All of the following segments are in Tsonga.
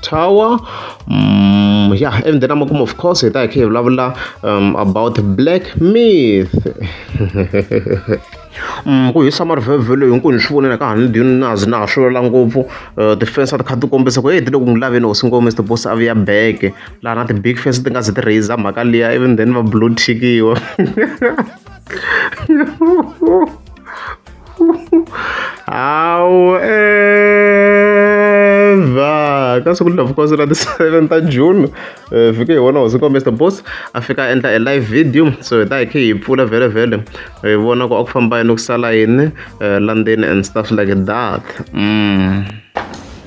tower um, yeah even the number of course it like hey blah blah um, about black myth um ku hisa marivhevhelo hinkwenu ni swi vonela ka hani ndini na zi na ha swi ngopfu uh, ti-fans a ti kha ti kombisa ku e ti le ku n'wi laveni hosi ngopfu mr boss a vuya beke laha na ti-big fans ti nga zi ti raiser mhaka liya even then va blue tickiwa hawu eva ka siku lavukhosi ra ti-seven ta june um vhiki hi wona hosi nkombe mr boss a fika a endla e live video so hi ta hi khe hi pfula vhele vhele hi vona ku a ku famba yini ku sala yini um landzeni and stuff like that mm.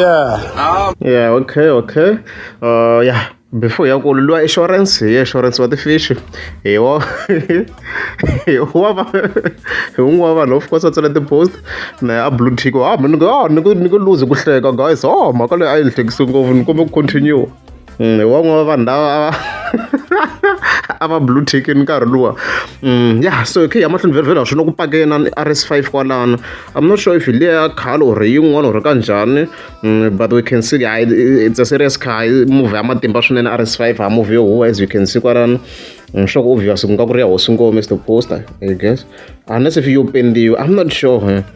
yeah yeah okay okay uh yeah before ya ku lwa insurance hi insurance wa tifishi hi wo hi wa va hi un'wana vanhu of course a tsala tipost na a blue tick ah ni ku ah, ni ku ni ku lose ku hleka guys oh mhaka leyi a yi ni hlekisi ngopfu ni kumbe ku continue Mm, wan'we wa vanhu lava a va blue ticken nkarhi luwa mm, ya so khe ya mahlweni vherivhela swi na ku pakena rs five kwalano i'm not sure if hi leya khalo or yin'wana or ka njhani mm, but we can see hayi it's a serious car movie ya matimba swinene rs five ha movie yo huwa as you can see kwalano nxoko mm, obvious ku nga ku ri ya hosi ngome is the poster i guess unless if yo pendiwa i'm not sure eh.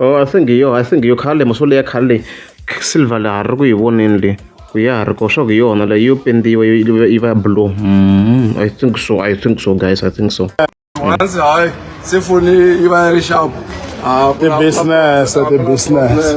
Oh a swi ngiyo a swi ngiyo khale muso leya khale leyi silver laha ri ku yi voneni le ku ya ha ri ko swa ku hi yona leyi yo pendiwa yi yi va blue mm, i think so i think so guys i think so once hayi se foni yi va yi ri sharp ah, ti-business ti-business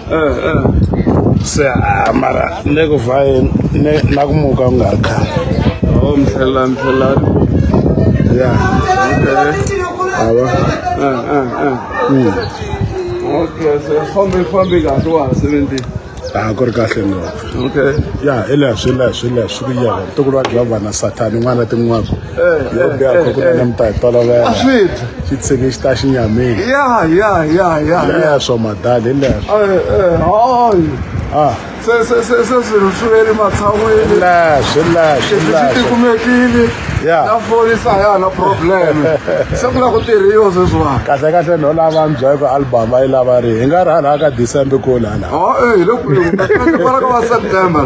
se ah, mara ne ku vaye ne na ku muka u nga ri khale oh mhlela mhlela ya okay ava ah ah ah mm. okay se fambi fambi kahle wa ha sebenzisa a ku ri kahle ngopfu okay ya hi leswi leswi leswi ku yena ntukulu wa giovanna sathani n'wana tin'wako yo biya ko kuna na mta tolovela a swi dyi xi tshike xi ta xinyamini ya ya ya ya le ya swo madali le ya swo hayi ah se se se se swilo swi ve le matshan'wini la swi la swi leswi la swi tikumekile Ya. na forisa ya na problem se ku la ku tirhiwa sweswiwani kahle kahle no lava mbya ku album ayi lava ri hi nga ri hala ka December ko lana ha eh hi le kule ku ta ka va ka va September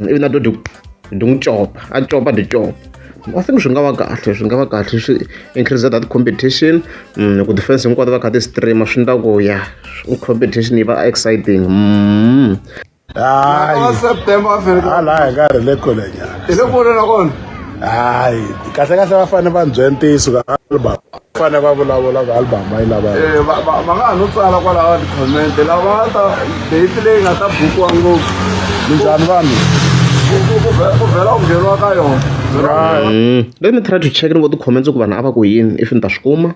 ivi na dodi ndi n'wi copa a copa ndi copa i think swi nga va kahle swi nga va kahle swi increase that competition mm, ku defense hinkwato va kha ti streama swi ndla ku ya competition yi va exciting mm. hayi september a fanele hala hi ka ri le kule nyana hi le kule na kona hayi kahle kahle va fanele va byela ntiyiso ka baba fane va vulavula ka album va yi lava eh, va nga ha no tsala kwalaho ti-comment lava ta date leyi nga ta bukiwa ngopfu minjhani vanhu ku vhela ku ngheniwa ka yona mm. let me try to check ni vo ti-comments ku vanhu a va ku yini if ni ta swi kuma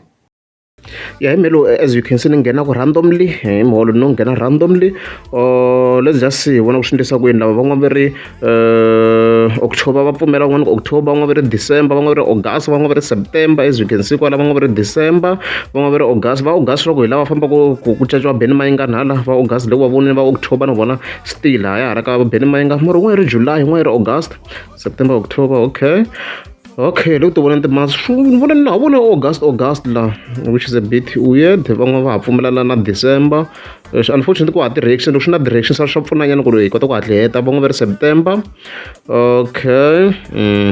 ya hi melo as you can see ni nghena ku randomly hi miholo no nghena randomly or let's just see vona ku swi endlisa ku yini lava van'wana va ri October va pfumela van'wana ku October van'wana va ri December van'wana va ri August van'wana va ri September as you can see kwala van'wana va ri December van'wana va ri August va August loko hi lava fambaka ku ku caciwa Benny Mayinga nhala va August loko va vonile va October na vona still ha ya hala ka Benny Mayinga mara un'wana ri July un'wana ri August September October okay okay loko ti vona timonths ni vona na vona August August la which is a bit weird van'wana va ha pfumelela na December leswi unfortunately ku hava ti-reaction loko swi na ti-reaction swa swa pfunanyana ku ri hi kota ku hatli heta va ngo va ri september okay mm.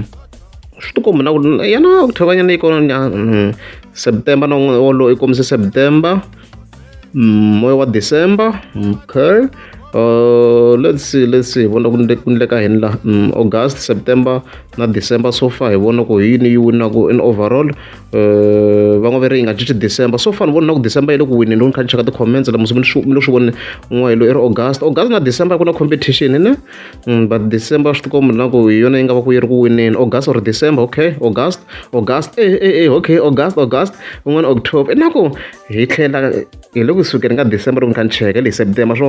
swi tikombi na ku yana octobanyana yi kona mm. september na wolo i kombise september mm, moya wa december okay Uh, let's see let's see vona ku endleka hini la mm, august september na december so far hi vona ku hi yini yi winaku in overall eh, va n'wi ve ri yi nga cinci december so far ni vona ku december yi le ku wineni loko ni kha ni cheka ti-comments lama swi ni swi voni n'we lo i ri august august na december ku na competition ne mm, but december swi tikomba na ku hi yona yi nga va ku yi ri ku wineni august or december okay august august e e e okay august august un'wana october na ku hi tlhela hi le ku sukeni ka december loko ni kha ni cheka le hi september so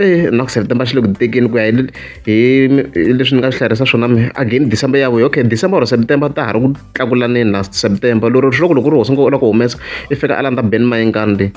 Eya na ku September xi le ku tekeni ku ya hi hi leswi ni nga swi hlayarisa swona mehe again December ya vuya okay December or September ta ha ri ku tlakulaneni na September lero swi loko loko ri hosi ngo u lava ku humesa i fika a landza Ben Mayengani leyi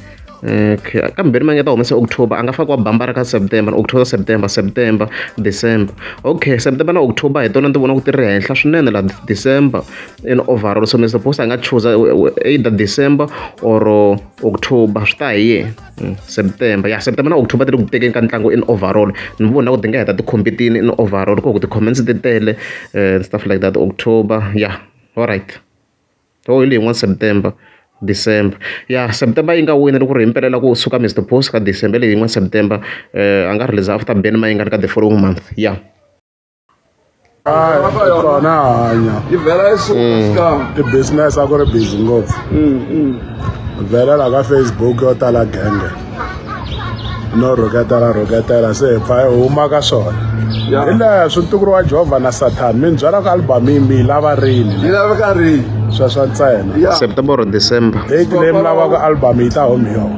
okay kambe Ben Mayengani ta humesa October a nga fakiwa bambara ka September October September September December okay September na October hi tona ni ti vona ku ti ri henhla swinene la December and overall so Mister Boss a nga chuza either December or October swi ta hi yena. Mm, september ya september na october ti ri ku tekeni ka ntlangu in overall ni vona ku ti nga heta tikhompetini in overall ko ku ti-comments ti tele eh, and stuff like that october ya all right ho oh, hi leyi yin'wana september december ya september yi nga wina loko ri hi mpelela ku suka mr post ka december leyi yin'wana september um a nga release after ben mayingani ka the following month ya yeah. kona hanya yi vhela yi suka i business a ku ri busy ngopfu vhela la ka facebook yo tala genge no rhuketela rhuketela se hi pfa hi huma ka swona Ya. hi leha swi ntukuriwa jehovha na sathana mi ni byela ku albhamu yi mi yi lava rini yi laveka rini sweswo ntsena ya september or december date leyi mi lavaka albhamu yi ta home yona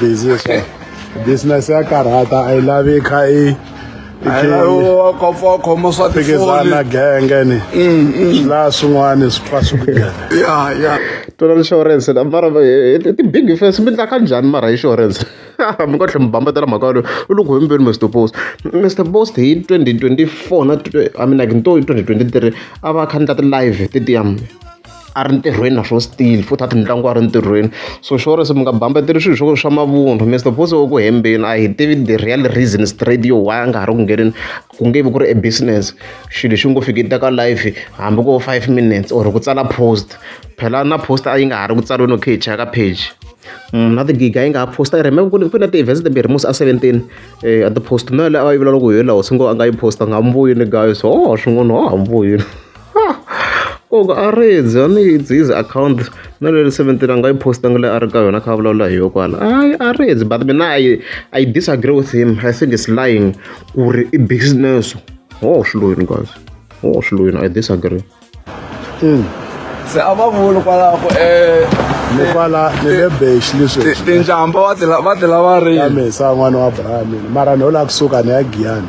business business ya karhata a yi lavi yi kha yi khoma swa tiphikizana genge ni mm, mm. swi laha swin'wana swi pfa swi tona insurance na mara ti-big fes mi ndlaka njhani mara insurance mi nga tlhe mi bambetela mhaka yaleyo u loko hembeni mr post mr post hi 2024 na i mean like nto hi 2023 a va kha ni ta ti-live ti-diam a ri ntirhweni na swo still futhi a ti mitlangu a ri ntirhweni so xo risa mi nga bambeteli swilo swo swa mavunwa mi suppose u ku hembeni a hi tivi the real reason straight yo why a nga ha ri ku ngheneni ku nge vi ku ri e business xilo xi ngo fiki teka life hambi ko five minutes or ku tsala post phela na post a yi nga ha ri ku tsariweni okay hi cheka page Mm, na tigiga yi nga ha posta ri remember ku na ti-events timbirhi musi a seventeen um a ti-post na yaleyo a yi vulavula ku hi laha hosi ngo a nga yi posta nga muvuyini guys ho swin'wana ho ha muvuyini ku a rindze a ni yi ndzi yi ze akhawunti na leyi seventeen a nga yi post-angi leyi a ri ka yona a kha a vulavula hi yo kwala a a rindze but mina i i disagree with him i think it's lying ku ri i business ho swi loyini guys ho swi loyini i disagree se a va vuli kwalaho ku um ni kwala ni le bex leswi tinjhamba va ti la- va ti lava ya rini mesa n'wana wa brahmin mara ni yo lava kusuka ni ya giyani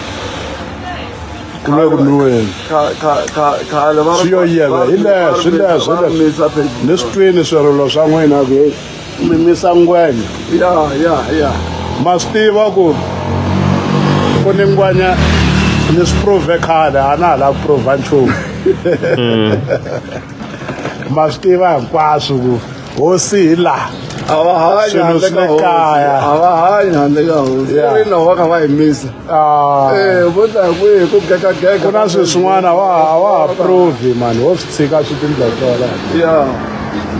kulwekunwiweni swi yo yeva hi leswi hi leswi hi leswi ni swi twini swirilo swa n'wina ku heyi mi misa ngwenya ya ya ya ma swi tiva ku ku ni ngwenya ni swi prove khale a na ha lava ku prova nchumu ma swi tiva hinkwaswo ku hosi hi laha a va hanyi Swilo handle swi ka le hosi kaya. a va hanyi handle ka hosi Yeah. ri loko va kha va yimisa Ah, Eh, vo ta hi kwihi ku gegagega ku na swilo swin'wana a wa ha- a wa ha provi mani wo swi tshika swi tindlotlola ya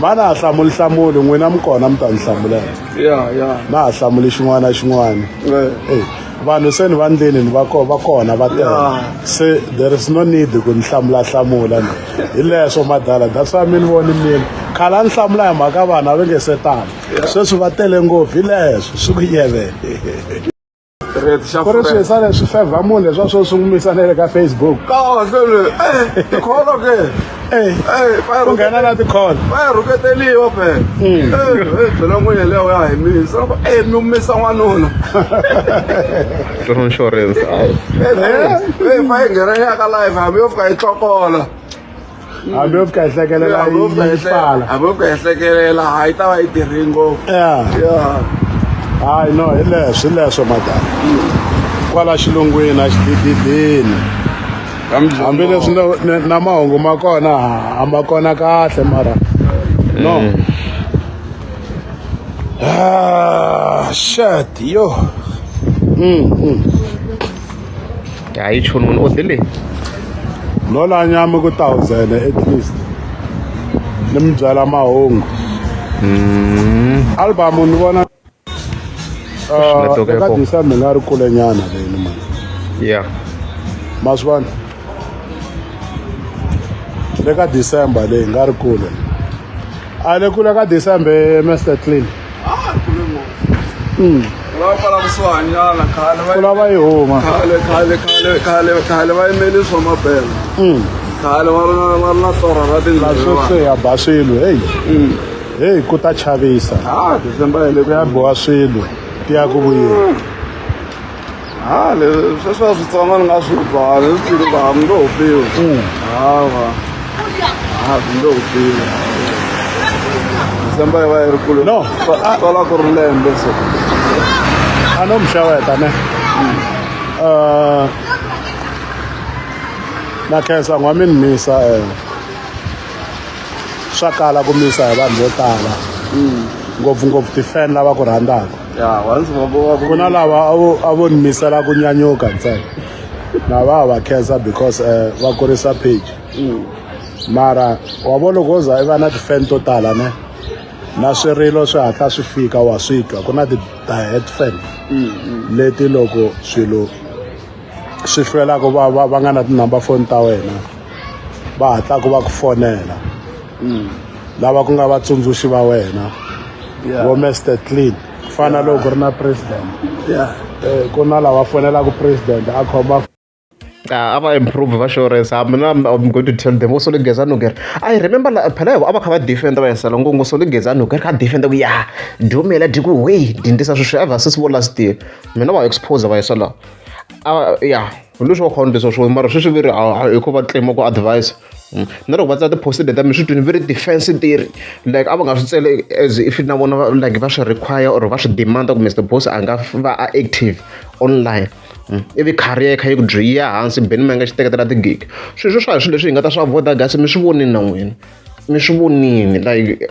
va na ha hlamuli hlamuli n'wina mi kona mi ta ni hlamulela ya ya na ha hlamuli xin'wana na xin'wana Eh. Ey, vanhu se ni va ndleni ni va va kona va tele se there is no need ku ni hlamula hlamula ni hi leswo madala that's why mi ni voni mina khale a ni hlamula hi mhaka vanhu a va nge se tala sweswi va tele ngopfu hi leswo swi ku yevele ku ri swi sale swi favor munhu leswa swo sungumisa na le ka facebook eh, ku nghena na tikhona va ya rhuketeliwa phela byela n'wini yeleyo ya hi misa loko e mi humisa n'wanuna tona insurance ayi fa yi nghena yaka live hambi yo fika yi tlokola hambi yo fika yi hlekelela hambi yo fika yi pfala hambi yo fika yi hlekelela hayi ta va yi tirhi ngopfu hayi no hi leswi leswo madala kwala xilungwini a xidididini hambileswi na mahungu ma kona a ma kona kahle mara no mm. ah, shat yo mm, mm. hayi choni munhu o dile no la nyama ku thousand at least ni mi byala mahungu mm. album ni vona Ah, eka disa mi nga ri kule nyana leni mani ya ma swi vona le ka december leyi nga ri kule a le kule ka december master clean ah, hmm. kulava yi huma khale va yimeli swa mabela hmm. khale va ri na torha ra tindlaa swo se ya baswilo heyi hmm. heyi ku ta chavisa ah, ku ya biwa swilo ti ya ku vuyeni ha leswi sweswiwa switsongo ni nga swi bvana swi tiri va mi ngo ho piwi mm. hawa ha mi ngo ho piwi december yi va yi ri kule no sola ku ri lembe so a no mixaweta ne mm. uh, na khensa n'wamini misa um swa kala ku misa hi vanhu vo tala hmm. ngopfungopfu ti-fan lava ku rhandzaka ku na lava a vo ni misela ku nyanyuka ntsena na va va khensa because um va kurisa page hmm. mara wa vo loko wo za i va na ti-fan to tala ne na swirilo swi hatla swi fika wa swi twa ku na ti-diet fan hmm, leti loko swilo swi hlwelaka va va va nga na tinumber foni ta wena va hatlaka va ku fonela mm. lava ku nga vatsundzuxi va wena vo Mr Clean ku fana loko ku ri na president eh, ku na lava fonelaka president a khoma Ah, ava improve va shores ah, mina i'm going to tell them wo solo geza nuker i remember phela yavo a va kha va defenda va yesela ngo ngo solo geza nuker kha defenda ku ya dumela diku wey dindisa sweswi a va sesi vo last year mina va expose va yesela a ya hi leswi wa khona leswa swo mara sweswi veri hi ku va claim ku advise mm. na loko va tsala ti-post leta mi swi twini very defense theory like a va nga swi tsele as if na vona like va swi require or va swi demanda ku mr boss a nga va a active online mm. ivi career yi kha yi ku dyi ya hansi beni mi nga xi teketela tigig sweswo swa hi swilo leswi hi nga ta swi avoda gasi mi swi vonini na n'wina mi swi vonini like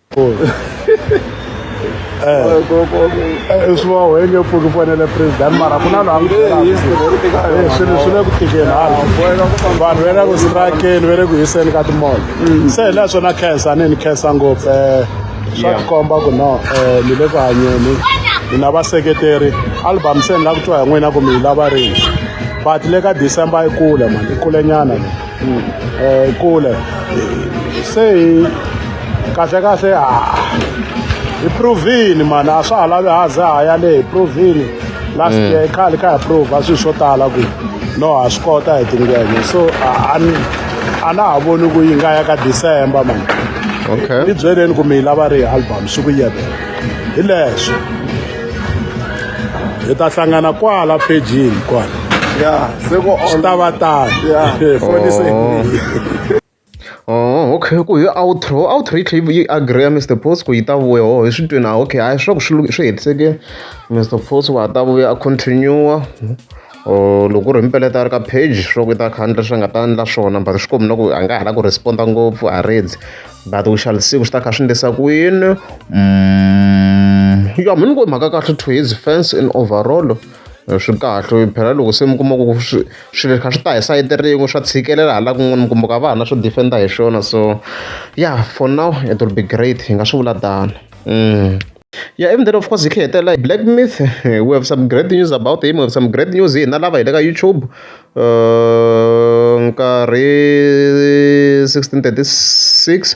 i swi va wenge pfuki fanele president mara ku na loyi swi le ku tikeni hala vanhu ve le ku strakeni ve le ku hiseni ka timolo mm. se hi leswo na khensa ni ni khensa ngopfu um swa tikomba ku no um ni le ku hanyeni ni na vaseketeri album se ni la ku twa hi n'wina ku mi yi lava rini but le ka december yi kule mani yi kulenyana eh, kule se hi kahlekahle hi provini mani a swa ha lavi haze ha ya le hi provini last mm. year khale kha hi prove a swilo swo tala ku no ha swi kota hi tingene so a na ha voni ku yi nga ya ka december mani okay ni byeleni ku mi yi lava ri hi album swi ku yebela hi leswo hi ta hlangana kwala phejini kwala yeah se ku swi ta va tano foni se Oh, okay ku hi outro outro yi tlhela yi agree Mr Post ku yi ta vuya ho hi swi twini ah okay hayi swa ku swi swi hetiseke Mr Post wa ta vuya a continue or loko ku ri hi mipeletelo a ri ka page swi vula ku i ta khandla swi nga ta endla swona but swi komi na ku a nga ha la ku responda ngopfu a redzi but u shall see ku swi ta kha swi ndlisa ku yini mm, ya mi ni ku mhaka kahle to his fence in overall eh, swi kahle phela loko se mi kuma ku swilo kha swi ta hi sayiti rin'we swa tshikelela hala kun'wana mi kumbuka vana swo defenda hi swona so ya for now it will be great hi nga swi vula tano mm. Ya ivi then of course hi tlhela hi hetelela hi black myth we have some great news about him we have some great news hi hina lava hi le ka YouTube nkarhi sixteen thirty six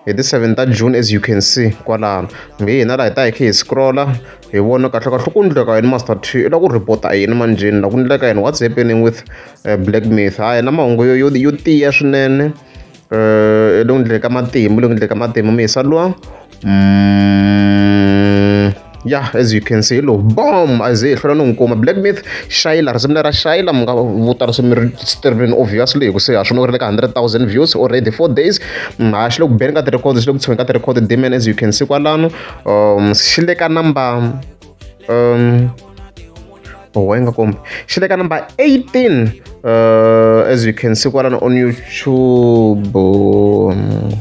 hi ti seven ta June as you can see kwalano nge hina laha hi ta hi kha hi scrolla hi vona kahle kahle ku ndleka yini master t i lava ku report-a yini manjheni lava ku ndleka yini what's happening with eh, black myth ha yena mahungu yo yo yo tiya swinene um eh, le ku ndleka matimu le ku ndleka matimu mi hi sa lwa mm, yeah as you can see lo bom aze hi hlwela no n'wi kuma black myth shayila risimu lera shayila mi nga vuta risimu ri streaming obviously hikuva se ha swi no ri le ka 100000 views already four days mm, ha xi le ku beni ka ti-record xi le ku tshoweni ka ti-record demon as you can see kwalano um xi le ka number um oh wa yi nga kombi xi le ka number 18 uh, as you can see kwalano on youtube um,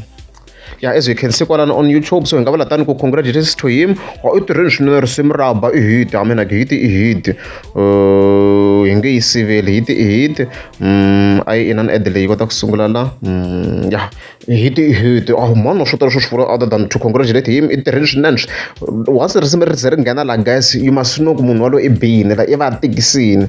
ya as you can see kwalana on youtube so hi nga vula tani ku congratulations to him wa u tirheni swinene risimu ra ba i hit i mean like hit i hit uh, hi nge yi siveli hit i hit mm, a yi inani ad leyi kota ku sungula la mm, ya hit i hit oh mano swo tala swo swi vula other than to congratulate him i tirheni swinene once risimu ri ze ri nghena la guys you must know ku munhu walowo i biyini la i va tikisini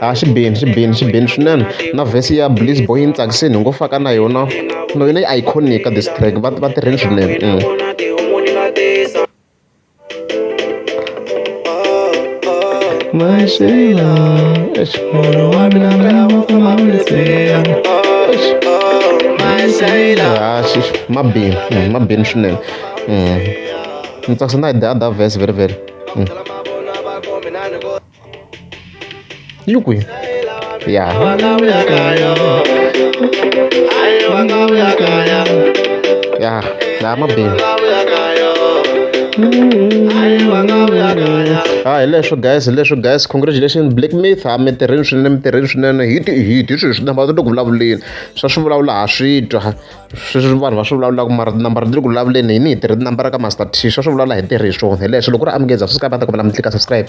a xi bini xi bini xi bini swinene na vhesi ya bliss boy yi ni tsakisini ni ngo faka na yona no yona yi iconic ka this track va va tirheni swinene Mashela, eish, munhu wa mina mi lava ku ma vulisela. Eish, Mashela. Ah, xi ma bini, mm, ma bini swinene. Mm. Ni tsakisa na hi the other verse very very. Yuki. Yeah. Yeah, nah, my baby. ha hi leswo guys hi leswo guys congratulation black myth ha mi tirheni swinene mi tirheni swinene hi ti hi ti swilo swi namba ti loko vulavuleni swa swi vulavula ha swi twa sweswi vanhu va swi vulavulaka mara tinambara ti le ku vulavuleni yini hi tirhi tinambara ka master t swa swi vulavula hi ntirhi hi swona hi leswi loko u ri amukeza subscribe a ta kombela mi tlika subscribe